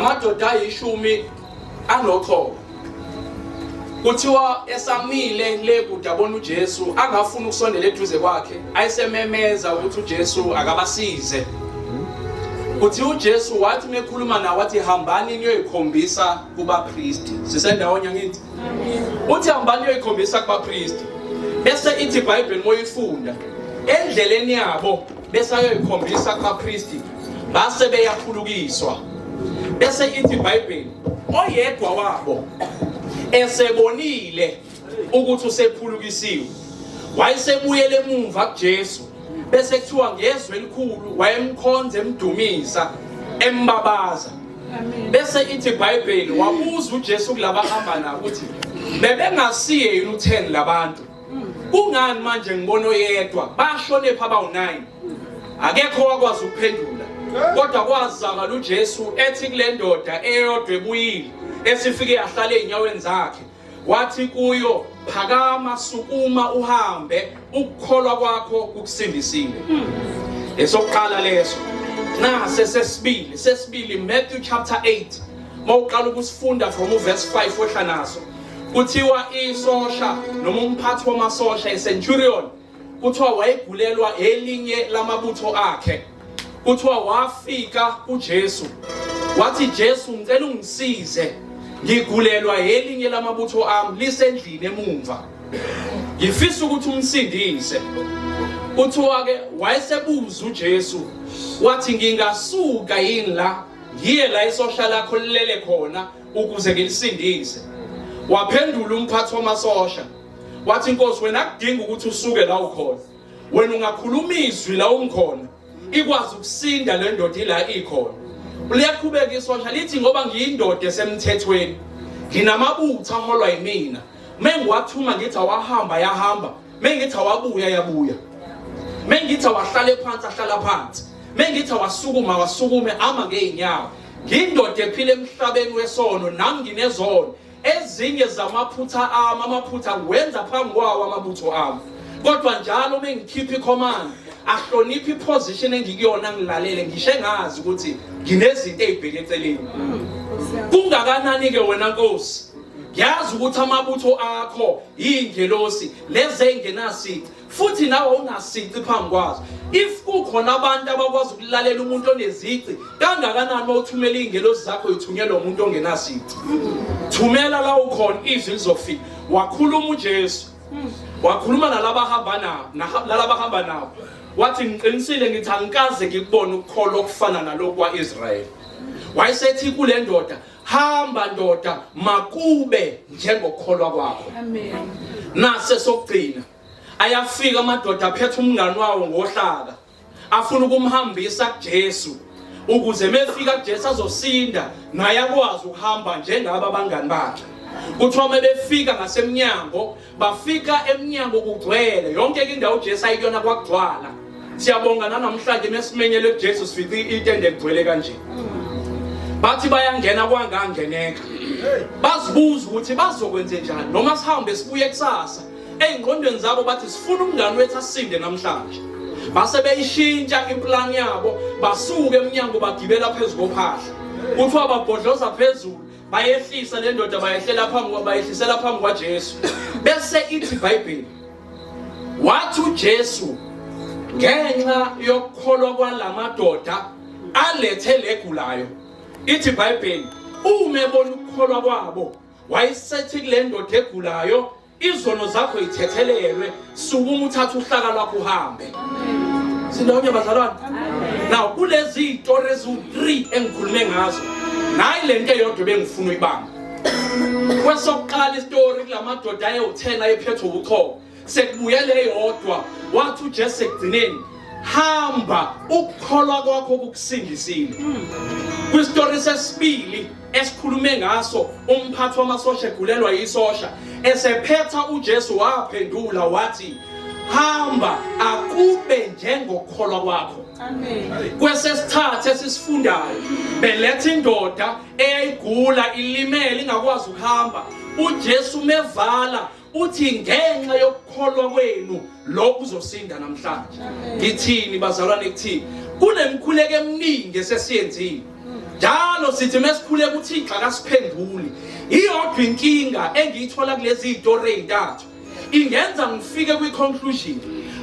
amadoda ayishumi anoqhobo kuthiwa esamile le kude abona uJesu angafuni ukusondela eduze kwakhe ayisememeza ukuthi uJesu akabasize kuthi uJesu wathi mekhuluma nawo wathi hambani niyoyikhombisa kubapristi sisendawonye ngithi uthi hambani niyoyikhombisa kubapristi bese ithi iBhayibheli moyifunda endleleni yabo bese ayoyikhombisa kubapristi base beyaphulukiswa bese ithi ibhayibheli oyedwa wabo esebonile ukuthi usephulukisiwe wayesebuyele emuva kuJesu bese kuthiwa ngezwe elikhulu wayemkhonza emdumisa embabaza bese ithi ibhayibheli wabuza uJesu kulabahamba nabo ukuthi bebengasiye yini u10 labantu kungani manje ngibona oyedwa bashonephi abawu-9 akekho wakwazi ukuphendula kodwa kwazakala ujesu ethi kule ndoda eyodwa ebuyile esifike yahlala ey'nyaweni zakhe wathi kuyo phakama sukuma uhambe ukukholwa kwakho kukusindisile hmm. esokuqala leso nase sesibili sesibili Matthew chapter 8 mawuqala ukusifunda from uverse 5 wehla naso Kuthiwa isosha noma umphathi wamasosha iCenturion kuthiwa wayegulelwa elinye lamabutho akhe. Kuthiwa wafika kuJesu. Wathi Jesu ngicela ungisize. Ngigulelwa elinye lamabutho ami lisendlini emumva. Ngifisa ukuthi umsindise. Kuthiwa ke wayesebuza uJesu wathi ngingasuka yini la ngiye la isosha lakho lilele khona ukuze ngilisindise waphendula umphathi wamasosha wathi inkosi wena kudinga ukuthi usuke la ukhona wena ungakhuluma izwi la ungikhona ikwazi ukusinda le ndoda ila ikhona liyaqhubeka isosha lithi ngoba ngiyindoda esemthethweni nginamabutha aholwa yimina mengiwathuma ngithi awahamba yahamba mengithi awabuya yabuya mengithi awahlale phansi ahlala phansi mengithi awasukuma awasukume ama ngey'nyawo Ngindoda ephila emhlabeni wesono nami nginezono. Ezinye zamaphutha ami amaphutha ngiwenza phambi kwawo amabutho ami. Kodwa njalo uma ngikhipha icommand ahloniphe iposition engikuyona ngilalele ngisho engazi ukuthi nginezinto ezibheke eceleni. Kungakanani ke wena Nkosi? Yazi ukuthi amabutho akho ingelosi leze engenasici futhi nawe awunasici phambi kwazo if kukhona abantu abakwazi ukulalela umuntu onezici kangakanani uma uthumela iy'ngelosi zakho yithunyelwa umuntu ongenasici thumela la ukhona izwi lizofika wakhuluma ujesu wakhuluma nalabahamba nabo nalabahamba nabo wathi ngiqinisile ngithi angikaze ngikubone ukukholwa okufana nalokhu kwa-israyeli wayesethi kule ndoda hamba ndoda makube njengokholwa kwakho amen nase sokugcina ayafika amadoda aphethe umngani wawo ngohlaka afuna ukumhambisa kuJesu ukuze mefika kuJesu azosinda naye akwazi ukuhamba njengaba abangani bakhe kuthiwa uma befika ngasemnyango bafika emnyango kugcwele yonke ke indawo uJesu ayikuyona kwagcwala siyabonga nanamhlanje mesimenyele kuJesu sifice itende ligcwele kanje bathi bayangena kwangangeneka bazibuza ukuthi bazokwenze njani noma sihambe sibuye kusasa ey'ngqondweni zabo bathi sifuna umngani wethu asinde namhlanje base beyishintsha impulani yabo basuke emnyango bagibela phezu kophahla kuthiwa babhodloza phezulu bayehlisa le ndoda bayehlela phambi bayehlisela phambi kwaJesu bese ithi iBhayibheli wathi uJesu ngenxa yokukholwa kwalamadoda alethe legulayo ithi iBhayibheli uma ebona ukukholwa kwabo wayesethi kule ndoda egulayo izono zakho yithethelelwe sukuma uthatha uhlaka lwakho uhambe sindawonye bazalwane now kulezi iy'tori eziwu-three engikhulume ngazo nayi le nto eyodwa bengifuna uyibamba kwesokuqala isitori kula madoda ayewu-ten ayephethwe ubuchoko sekubuye le yodwa wathi ujesu sekugcineni hamba ukukholwa kwakho kukusindisile hmm. kwisitori sesibili esikhulume ngaso umphathi wamasosha egulelwa yisosha esephetha uJesu waphendula wathi hamba akube njengokholwa kwakho kwesesithathu esisifundayo beletha indoda eyayigula ilimele ingakwazi ukuhamba uJesu mevala uthi ngenxa yokukholwa kwenu lokhu uzosinda namhlanje ngithini bazalwane kuthini kunemkhuleko eminingi esesiyenzile njalo sithi mesikhuleka uthixo akasiphenduli iyodwa inkinga engiyithola kulezi zitori ezintathu ingenza ngifike kwi-conclusion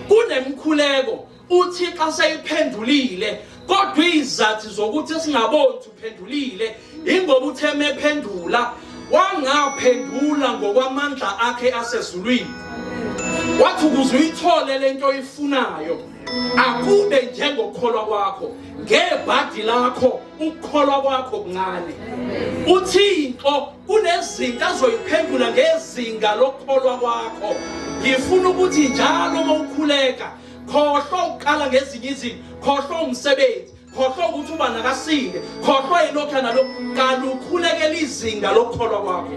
kunemkhuleko uthixo aseyiphendulile kodwa izathi zokuthi singaboni uphendulile ingoba uthe mephendula wangaphendula ngokwamandla akhe asezulwini wathi ukuze uyithole lento oyifunayo akube njengokukholwa kwakho ngebhadi lakho ukukholwa kwakho kuncane uthixo kunezinto azoyiphendula ngezinga lokukholwa kwakho ngifuna ukuthi njalo uma ukhuleka khohlwa ukuqala ngezinye izinto khohlwa umsebenzi khohlwa ukuthi uba nakasinde khohlwa yilokhu nalokhu kanti ukhulekela izinga lokukholwa kwakho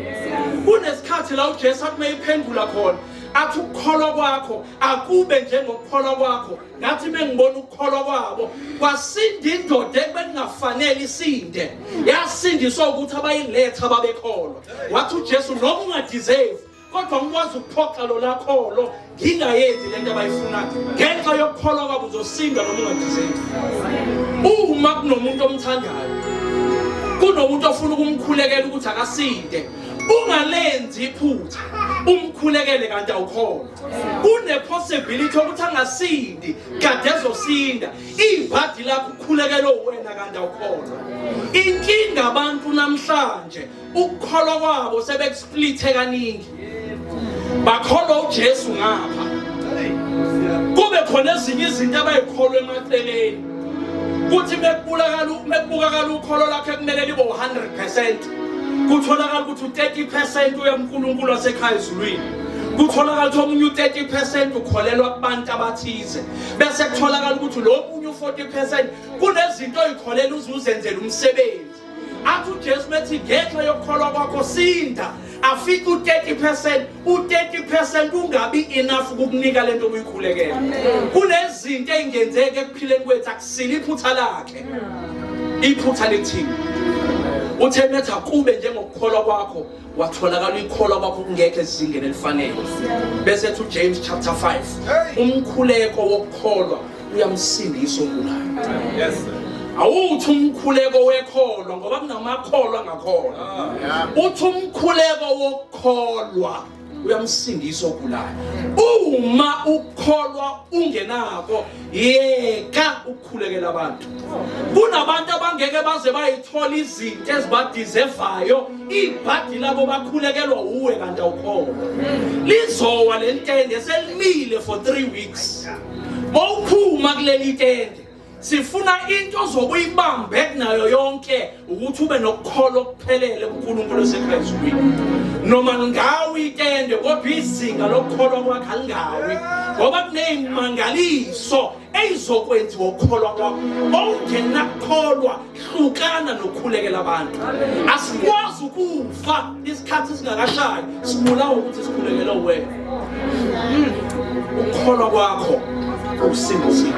kunesikhathi la ujesu athi meyiphendula khona athi ukukholwa kwakho akube njengokukholwa kwakho ngathi mengibona ukukholwa kwabo kwasinda indoda ebekungafanele isinde yasindiswa ukuthi abayiletha babekholwa wathi ujesu noma ungadeserve kodwa ngikwazi ukuphoxa lo lakholo ngingayenzi le nto abayifunayo ngenxa yokukholwa kwabo uzosinda noma ungathizeki uma kunomuntu omthandayo kunomuntu ofuna ukumkhulekela ukuthi akasinde ungalenzi iphutha umkhulekele kanti awukhona kunepossibility yokuthi angasindi kade ezosinda ibhadi lakho ukhulekele wena kanti awukhona inkinga abantu namhlanje ukukholwa kwabo sebekusplithe kaningi bakholwa uJesu ngapha kube khona ezinye izinto abayikholwa emaceleni kuthi mekubulakala mekubukakala ukholo lakhe kumele libe 100% kutholakala ukuthi u30% uya kuNkulunkulu wasekhaya ezulwini kutholakala ukuthi omunye u30% ukholelwa kubantu abathize bese kutholakala ukuthi lo omunye u40% kunezinto oyikholela uzuzenzela umsebenzi athi uJesu methi ngenxa yokukholwa kwakho sinda afike u-30 u-30 kungabi enough ukukunika lento obuyikhulekela kunezinto ey'ngenzeki ekuphileni kwethu akusile iphutha lakhe iphutha lithini uthe metha kube njengokukholwa kwakho watholakala uyikholwa kwakho kungekho ezingeni elifanele bese ethi uJames chapter 5 umkhuleko wokukholwa uyamsindisa ogulayo yes awuthi umkhuleko wekholwa ngoba kunamakholwa angakholwa ah. uthi umkhuleko wokukholwa uyamsindisa ogulayo uma ukholwa ungenako yeka khulekela abantu kunabantu abangeke baze bayithola izinto ezibadizevayo ibhadi labo bakhulekelwa uwe kanti awukhona lizowa le ntende selimile for three weeks mawuphuma kuleli tende sifuna into zokuyibambe kunayo yonke ukuthi ube nokukholwa okuphelele kuNkulunkulu oseKristwini noma ngawe itende kodwa izinga lokukholwa kwakhe alingawi ngoba kunezimangaliso eyizokwenziwa ukukholwa kwakho okungenakukholwa hlukana nokukhulekela abantu asikwazi ukufa isikhathi singakashayi sibulawa ukuthi sikhulekele wena hmm. ukukholwa kwakho ukusindisiwe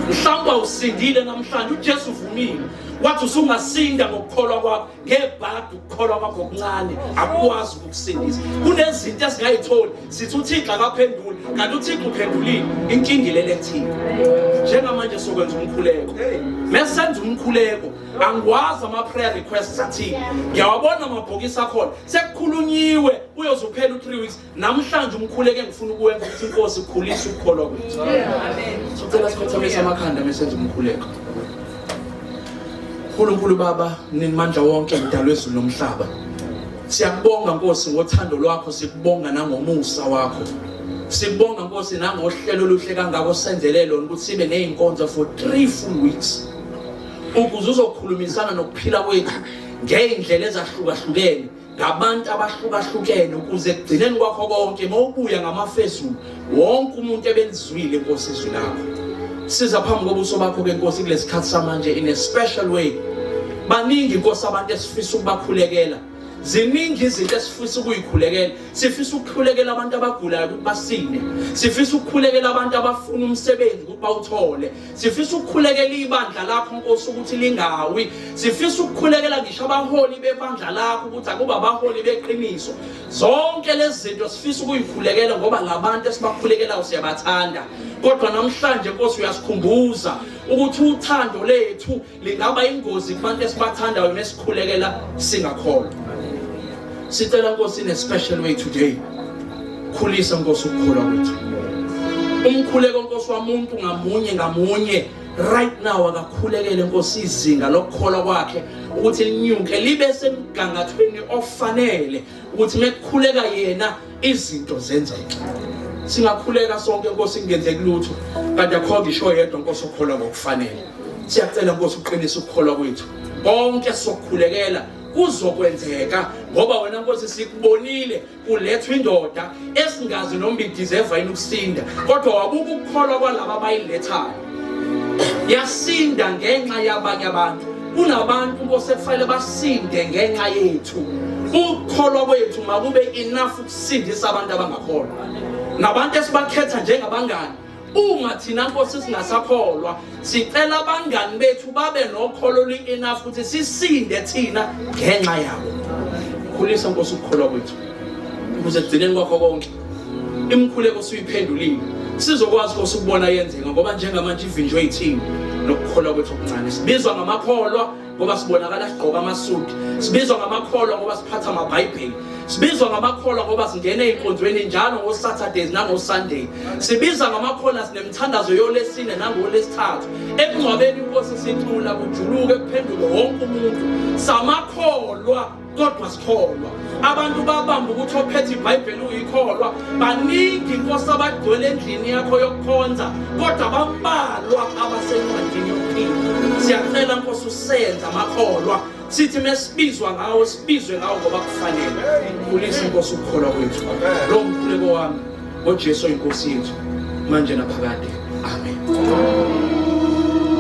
mhlawumbe usindile namhlanje ujesu uvumile wathi usungasinda ngokukholwa kwakho ngebhadi ukukholwa kwakho okuncane akukwazi ukukusindisa kunezinto esingayitholi sithi uthixo akaphenduli kanti uthixo uphendulile inkinga ilele thina njengamanje sokwenza umkhuleko mesenza umkhuleko angikwazi ama-prayer requests athile ngiyawabona amabhokisi akhona sekukhulunyiwe uyoze uphela u-three weeks namhlanje umkhuleke ngifuna ukuwenza ukuthi inkosi ikhulise ukukholwa kwethu sicela sikhothamisa amakhanda mesenza umkhuleko nkulunkulu baba ninimandla wonke mdalo ezulu nomhlaba siyakubonga nkosi ngothando lwakho sikubonga nangomusa wakho sikubonga nkosi nangohlelo oluhle kangako senzele lona ukuthi sibe ney'nkonzo for three full weeks ukuze uzokhulumisana nokuphila kwethu ngey'ndlela ezahlukahlukene ngabantu abahlukahlukene ukuze ekugcineni kwakho konke mawubuya ngamafezulu wonke umuntu ebelizwile inkosi izwi lakho siza phambi kobuso bakho ke nkosi kulesi khathi samanje in a special way baningi inkosi abantu esifisa ukubakhulekela ziningi izinto esifisa ukuyikhulekela sifisa ukukhulekela abantu abagulayo ukuthi basinde sifisa ukukhulekela abantu abafuna umsebenzi ukuthi bawuthole sifisa ukukhulekela ibandla lakho nkosi ukuthi lingawi sifisa ukukhulekela ngisho abaholi bebandla lakho ukuthi akuba abaholi beqiniso zonke lezi zinto sifisa ukuyikhulekela ngoba labantu esibakhulekelayo siyabathanda kodwa namhlanje nkosi uyasikhumbuza ukuthi uthando lethu lingaba ingozi kubantu esibathandayo uma sikhulekela singakholwa sicela nkosi in a special way today khulisa nkosi ukukholwa kwethu umkhuleko nkosi wamuntu ngamunye ngamunye right now akakhulekele nkosi izinga lokukholwa kwakhe ukuthi linyuke libe semgangathweni ofanele ukuthi mekukhuleka yena izinto zenzeke singakhuleka sonke nkosi kungenzeki lutho kanti akho ngisho yedwa nkosi okholwa ngokufanele siyacela nkosi uqinise ukukholwa kwethu konke sokukhulekela kuzokwenzeka ngoba wena nkosi sikubonile kulethwa indoda esingazi noma idizeva yini ukusinda kodwa wabuka ukukholwa kwalaba abayilethayo yasinda ngenxa yabanye abantu kunabantu bosekufanele basinde ngenxa yethu ukukholwa kwethu makube enough ukusindisa abantu abangakholwa nabantu esibakhetha njengabangani uma thina nkosi singasakholwa sicela abangani bethu babe nokholo oluyi-enough ukuthi sisinde thina ngenxa yabo khulisa nkosi ukukholwa kwethu ukuze ekugcineni kwakho konke imikhuleko suyiphendulile sizokwazi ukuthi ukubona yenzeka ngoba njengamanje ivinjwe yithini nokukholwa kwethu okuncane sibizwa ngamakholwa ngoba sibonakala sigqoka amasudi sibizwa ngamakholwa ngoba siphatha amabhayibheli sibizwa ngamakholwa ngoba singena ey'nkonzweni njalo ngo-saturdays nango-sunday sibiza ngamakholwa sinemthandazo yolesine nangolesithathu ekungcwabeni inkosi sicula kujuluke kuphenduke wonke umuntu samakholwa kodwa sikholwa abantu babamba ukuthi ophethe ibhayibheli uyikholwa baningi inkosi abagcwele endlini yakho yokukhonza kodwa bambalwa abasencwadini yokuphila siyacela nkosi usenza amakholwa sithi mesibizwa ngawo sibizwe ngawo ngoba kufanele khulisa inkosi ukukholwa kwethu lo mkhuleko wami ngojesu oyinkosi yethu manje naphakade amen